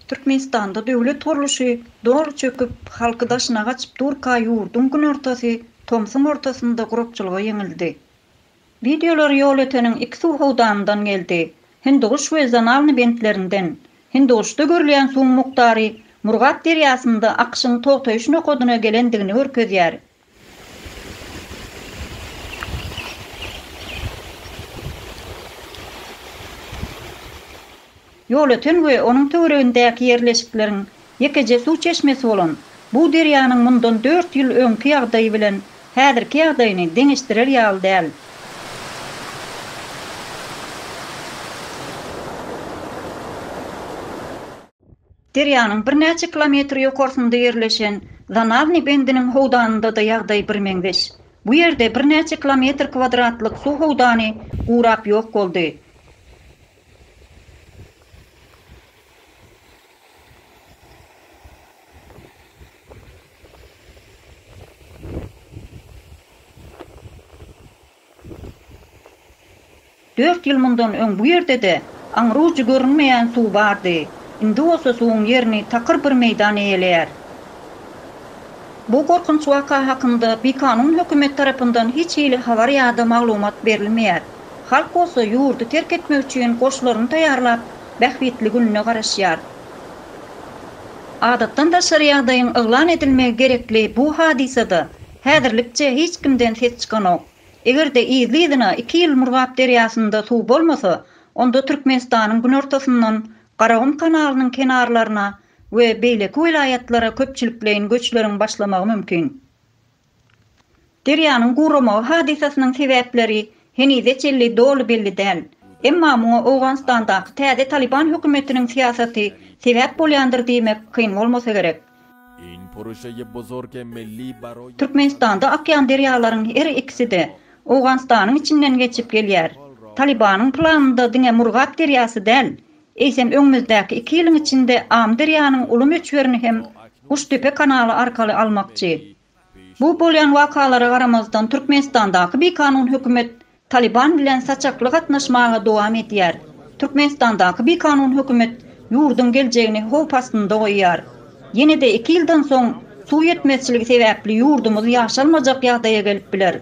Türkmenistanda döwlet gurluşy doly çöküp, halky daşyna gaçyp durka ýurduň günortasy tomsuň ortasynda gurakçylyga ýeňildi. Wideolar Ýolöteniň iki suw howdanyndan geldi, Hindiguş we Zanalny bentlerinden. Hindiguşda görülýän suwuň mukdary Murgap derýasynda akyşyň togtaýyş nokadyna gelendigini görkezýär. Ýolöten we onuň töweregindäki ýerleşikleriň ýekeje suw çeşmesi bolan bu derýanyň mundan dört ýyl öňki ýagdaýy bilen häzirki ýagdaýyny deňeşdirer ýaly däl. Derýanyň birnäçe kilometr ýokarsynda ýerleşen Zanawnyý bendiniň howdanynda-da ýagdaý birmeňzeş. Bu ýerde birnäçe kilometr kwadratlyk suw howdany gurap ýok boldy. Dört ýyl mundan öň bu ýerde-de aňry-ujy görünmeýän suw bardy. Indi bolsa suwuň ýerini takyr bir meýdan eýeleýär. Bu gorkunç waka hakynda bikanun hökümet tarapyndan hiç hili habar ýa-da maglumat berilmeýär. Halk bolsa ýurdy terk etmek üçin goşlaryny taýýarlap, bähbitli gününe garaşýar. Adatdan daşary ýagdaýyň yglan edilmegi gerekli bu hadysada Häzirlikçe hiç kimden ses çykanok. Eger-de yzly-yzyna iki ýyl Murgap derýasynda suw bolmasa, onda Türkmenistanyň günortasyndan Garagum kanalynyň kenarlaryna we beýleki welaýatlara köpçülikleýin göçleriň başlamagy mümkin. Derýanyň guramagy hadysasynyň sebäpleri Henize çenli doly belli däl. Emma muňa Owganystandaky täze Talyban hökümetiniň syýasaty sebäp bolýandyr diýmek kyn bolmasa gerek. Türkmenistanda akýan derýalaryň her ikisi-de Owganystanyň içinden geçip gelýär. Talybanyň planynda diňe Murgap derýasy däl, eýsem öňümizdäki iki ýylyň içinde Amyderýanyň uly möçberini hem Guşdepe kanaly arkaly almakçy. Bu bolýan wakalara garamazdan Türkmenistandaky bikanun hökümet Talyban bilen saçakly gatnaşmaga dowam edýär. Türkmenistandaky bikanun hökümet ýurduň geljegini howp astynda goýýar. Ýene-de iki ýyldan soň suw ýetmezçiligi sebäpli ýurdumyz ýaşalmajak ýagdaýa gelip biler.